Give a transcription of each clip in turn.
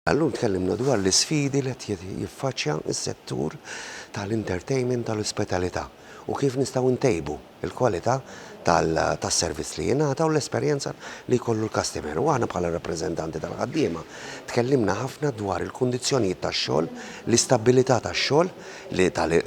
Illum tkellimna dwar l-isfidi li qed jiffaċċja s-settur tal-entertainment tal-ospitalità u kif nistgħu ntejbu l-kwalità tas-servizz li jingħata u l-esperjenza li jkollu l-kastimer. U aħna bħala rappreżentanti tal-ħaddiema tkellimna ħafna dwar il-kundizzjonijiet tax-xogħol, l-istabbilità tax-xogħol,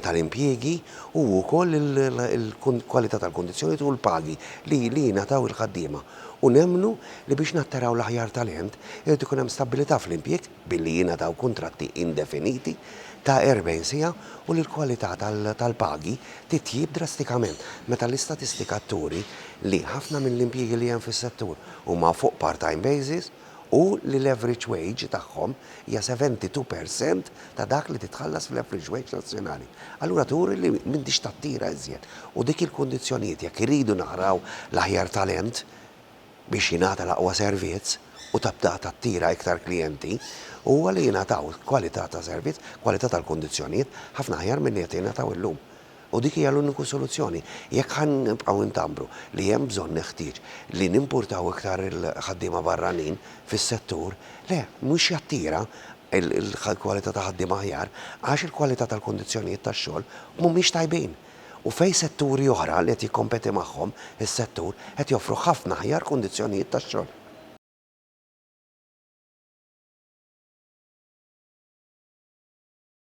tal-impjiegi u wkoll il-kwalità tal-kundizzjonijiet u l-pagi li jingħataw il-ħaddiema. u nemmnu li biex nattaraw l-aħjar talent irid ikun hemm stabbilità fl-impjieg billi jingħataw kuntratti indefiniti ta' 40 siegħa u li l-kwalità tal-pagi titjieb drastikament meta l-istatistika turi li ħafna mill-impjiegi li hemm fis-settur huma fuq part-time basis u li l-average wage tagħhom hija 72 per cent ta' dak li titħallas fl-average wage nazzjonali, allura turi li m'intix tattira iżjed. U dik hi l-kundizzjonijiet jekk irridu naraw l-aħjar talent biex jingħata l-aqwa servizz u tibda tattira iktar klijenti, huwa li jingħataw kwalità ta' servizz, kwalità tal-kundizzjonijiet ħafna aħjar milli qed jingħataw illum. U dik hija l-uniku soluzzjoni. Jekk ħa nibqgħu intambru li hemm bżonn neħtieġ li nimpurtaw iktar il-ħaddiema barranin fis-settur, le, mhux jattira l-kwalità ta' ħaddiema aħjar, għax il-kwalità tal-kundizzjonijiet tax-xogħol mhumiex tajbin. U fejn setturi oħra li qed jikkompeti magħhom is-settur qed joffru ħafna aħjar kundizzjonijiet tax-xogħol.